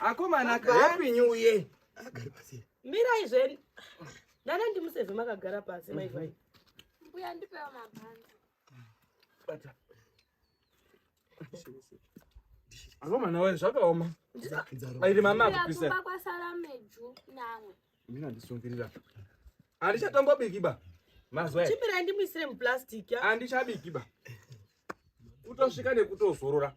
akomana happy new year agari pasi mirai zveni ndana ndimuseve makagara pasi maivai mhm. mbuya ndipewa mabhanzi bata akomana waye zvakaoma airi mama akupisira kwasara meju namwe mina ndisungirira andichatombobiki ba mazwa chimira ndimuisire muplastic andichabiki ba kutosvika nekutozorora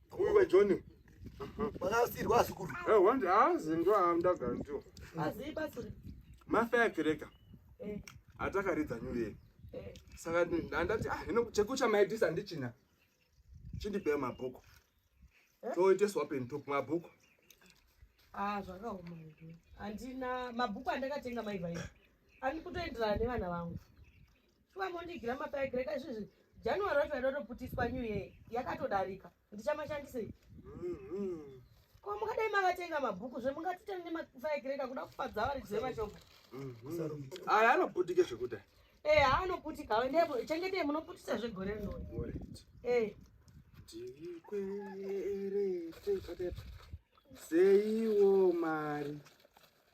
Uyu wa John. Vakasirwa azukuru. Eh, wandi azi ndo amda ganto. Azi pasuri. Mafa yakereka. Eh. Atakaridza nyuye. Eh. Saka ndandati ah hino chekucha maidisa ndichina. Chindipe mabhuku. Eh? Toite swap and talk mabhuku. Ah, zvakaoma izvo. Handina mabhuku andakatenga mai vaiva. Ani kutoenderana nevana vangu. shuwa mondigira mapaigire ka izvizvi january wacho yatotoputiswa new year yakatodarika ndichamashandisei mm-hmm. ko mungadai makatenga mabhuku zve mungatitani nemafaigireka kuda kufadza vari dzve mashoko mm-hmm. aya anoputike zvekuda e eh, haanoputika aendepo chengetei munoputisa zvegore rino e tikwerete seiwo mari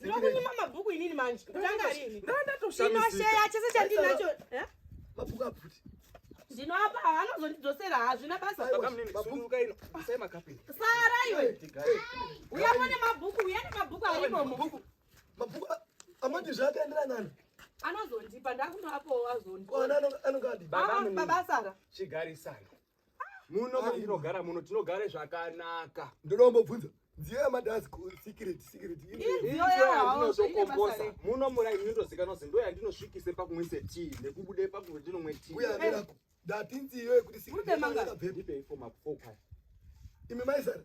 Ndinokunyima mabhuku inini manje. Kutanga rini? Ndinosheya chese chandinacho. Eh? Mabhuku aputi. Ndinoapa anozondidzosera hazvina basa. Sunduka ino. Sai makapi. Sara iwe. Uya mone mabhuku, uya ne mabhuku ari momo. Mabhuku. Mabhuku amati zvakaendera nani? Anozondipa ndakunoapo wazondipa. Ana anongadi. Baba Sara. Chigarisana. muno ah, tinogara muno tinogare zvakanaka ndoda kumbobvunza nziyo yamadhasi secret secret iyo yandinozokombosa muno murai inotozikanwa kuti ndo yandinosvikise pakumwise tii nekubude pakuti ndinomwe tii uya ndirako ndati nziyo yekuti secret imi maizara